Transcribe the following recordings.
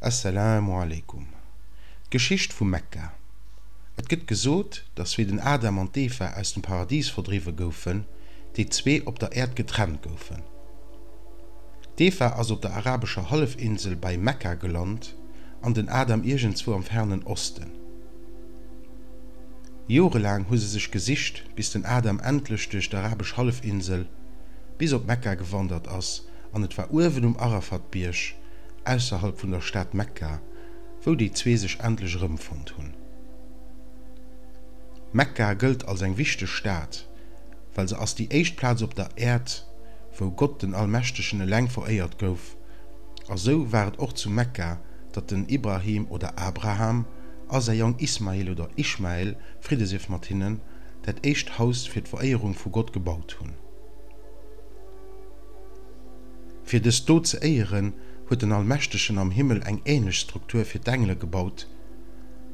As-salaamu alaikum, D'Geschicht vu Mekka. Et gëtt gesot, datt wéi den Adam an d'Eva aus dem Paradis verdriwwe goufen, déi zwee op der Äerd getrennt goufen. D'Eva ass op der arabescher Hallefinsel bei Mekka gelant an den Adam iergendzwou am fernen Osten. Jorelaang hu se sech gesicht, bis den Adam endlech duerch d'arabesch Hallefinsel bis op Mekka gewandert ass, an et war uewen um Arafat-Bierg ausserhalb vun der Stad Mekka, wou déi zwee sech endlech erëmfonnt hunn. Mekka gëllt als eng wichteg Stad, well se ass déi éischt Plaz op der Äerd, wou Gott den Allmächtegen eleng veréiert gouf, a sou war et och zu Mekka, datt den Ibrahim oder Abraham a säi Jong Ismail oder Ishmael, Fridde sief mat hinnen, dat éischt Haus fir d'Veréierung vu Gott gebaut hunn. Fir dës Dot ze éieren, huet den Allmächtegen am Himmel eng änlech Struktur fir d'Engele gebaut,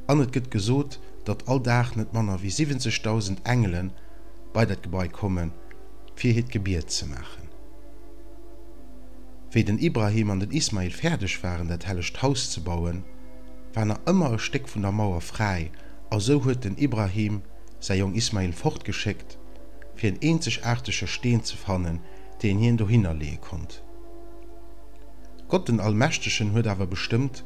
an et gëtt gesot, datt all Dag net manner wéi 70.000 Engele bei dat Gebai kommen, fir hiert Gebiet ze maachen. Wéi den Ibrahim an den Ismail fäerdeg waren, dat hellegt Haus ze bauen, war nach ëmmer e Stéck vun der Mauer fräi, a sou huet den Ibrahim, säi Jong Ismail fortgeschéckt, fir en eenzegaartege Steen ze fannen, deen hien dohinner leeë konnt. Gott den Allmächtegen huet awer bestëmmt,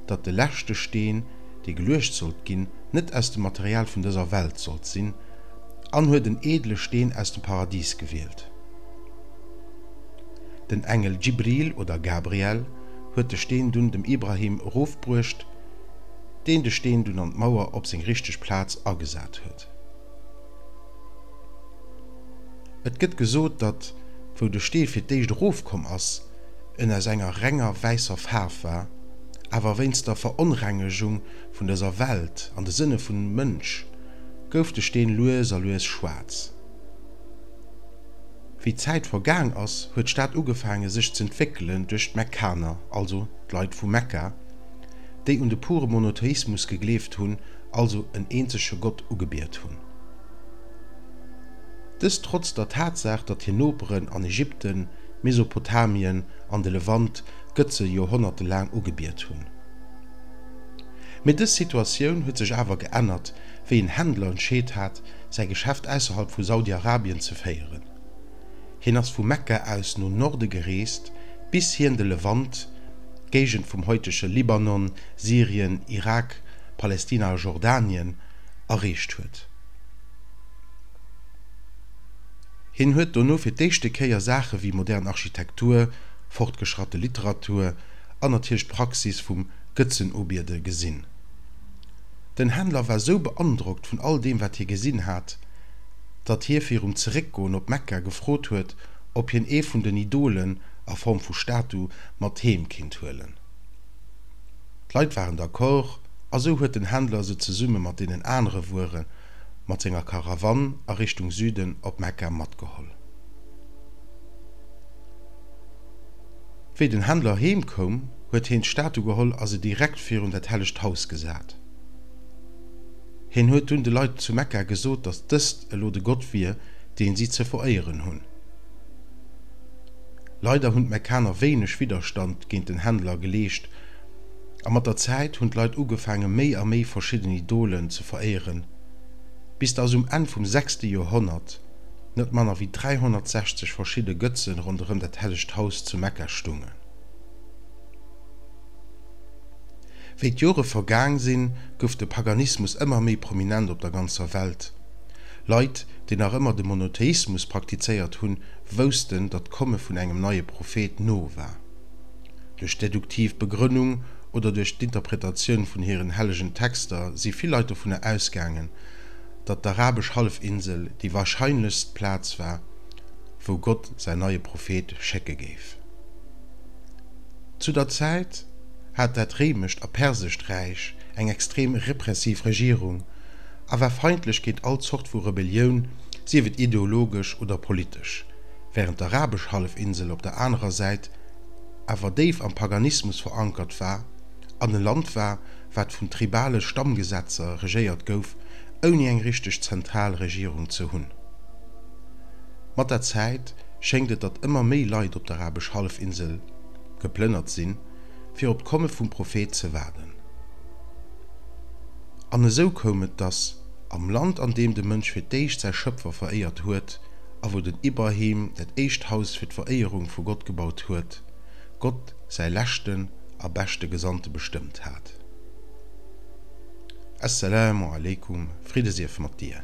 datt de leschte Steen, dee geluecht sollt ginn, net aus dem Material vun dëser Welt sollt sinn, an huet en eedele Steen aus dem Paradis gewielt. Den Engel Djibril oder Gabriel huet de Steen dunn dem Ibrahim erofbruecht. deen de Steen dunn an d'Mauer op seng richteg Plaz agesat huet. Et gëtt gesot, datt wou de Stee fir d'éischt erofkomm ass, en aus enger renger wäisser Faarf war, awer wéinst der Veronrengegung vun dëser Welt an de Sënne vum Mënsch gouf de Steen lues a lues schwaarz. Wéi d'Zäit vergaang ass, huet d'Stad ugefaange sech z'entwéckelen duerch d'Mekkaner, also d'Leit vu Mekka, déi un de pure Monotheismus gegleeft hunn, also en eenzege Gott ugebiet hunn. Dëst trotz der Tatsaach, datt hir Noperen an Ägypten, Mesopotamien an de Levant d'Gëtze joerhonnertelaang ugebiet hunn. Mee dës Situatioun huet sech awer geännert, wéi en Händler entscheet hat, säi Geschäft ausserhalb vu Saudi-Arabien ze féieren. Hien ass vu Mekka aus no Norde gereest, bis hien de Levant, d'Géigend vum haitege Libanon, Syrien, Irak, Palestina a Jordanien, erreecht huet. Hien huet dono fir d'éischte Kéier Saache wéi modern Architektur, fortgeschratte Literatur an natierlech d'Praxis vum Gëtzenubiede gesinn. Den Händler war sou beandrockt vun all deem, wat hie gesinn hat, datt hie virum Zeréckgoen op Mekka gefrot huet, ob hien ee vun den Idolen, a Form vu Statu, mat heem kinnt huelen. D'Leit waren d'accord, a sou huet den Händler se zesumme mat deenen anere Wuere mat senger Karawann a Richtung Süden op Mekka matgeholl. Wéi den Händler heem koum, huet heen d'Statu geholl a se direkt virun dat hellegt Haus gesat. Hien huet dunn de Leit zu Mekka gesot, dass dëst elo de Gott wier, dee si ze veréieren hunn. Leider hunn d'Mekkaner wéineg Widderstand géint den Händler geleescht, a mat der Zäit hunn d'Leit ugefaange méi a méi verschidden Idolen ze veréieren, bis dass um Enn vum sechste Joerhonnert net manner wéi 360 verschidde Gëtze ronderëm dat hellegt Haus zu Mekka stungen. Wéi d'Jore vergaang sinn, gouf de Paganismus ëmmer méi prominent op der ganzer Welt. Leit, déi nach ëmmer de Monotheismus praktizéiert hunn, woussten, datt d'Komme vun engem neie Prophet no war. Duerch d'deduktiv Begrënnung oder duerch d'Interpretatioun vun hiren hellegen Texter si vill Leit dovunner ausgaangen, datt d'arabesch Hallefinsel déi warscheinlechst Plaz war, wou Gott säin neie Prophet schécke géif. Zu der Zäit hat dat réimescht a persescht Räich eng extrem repressiv Regierung a war feindlech géint all Zort vu Rebellioun, sief et ideologesch oder politesch, wärend d'arabesch Hallefinsel op der anerer Säit awer déif am Paganismus verankert war an e Land war, wat vun tribale Stammgesetzer regéiert gouf, ouni eng richteg zentral Regierung ze hunn. Mat der Zäit schéngt et, datt ëmmer méi Leit op d'arabesch Hallefinsel. geplënnert sinn, fir op d'Komme vum Prophet ze waarden. An esou koum et, dass am Land, an deem de Mënsch fir d'éischt säi Schëpfer veréiert huet a wou den Ibrahim dat éischt Haus fir d'Veréierung vu Gott gebaut huet, Gott säi leschten a beschte Gesandte bestëmmt hat. As-Salaamu alaykum, Friddesief mat dir!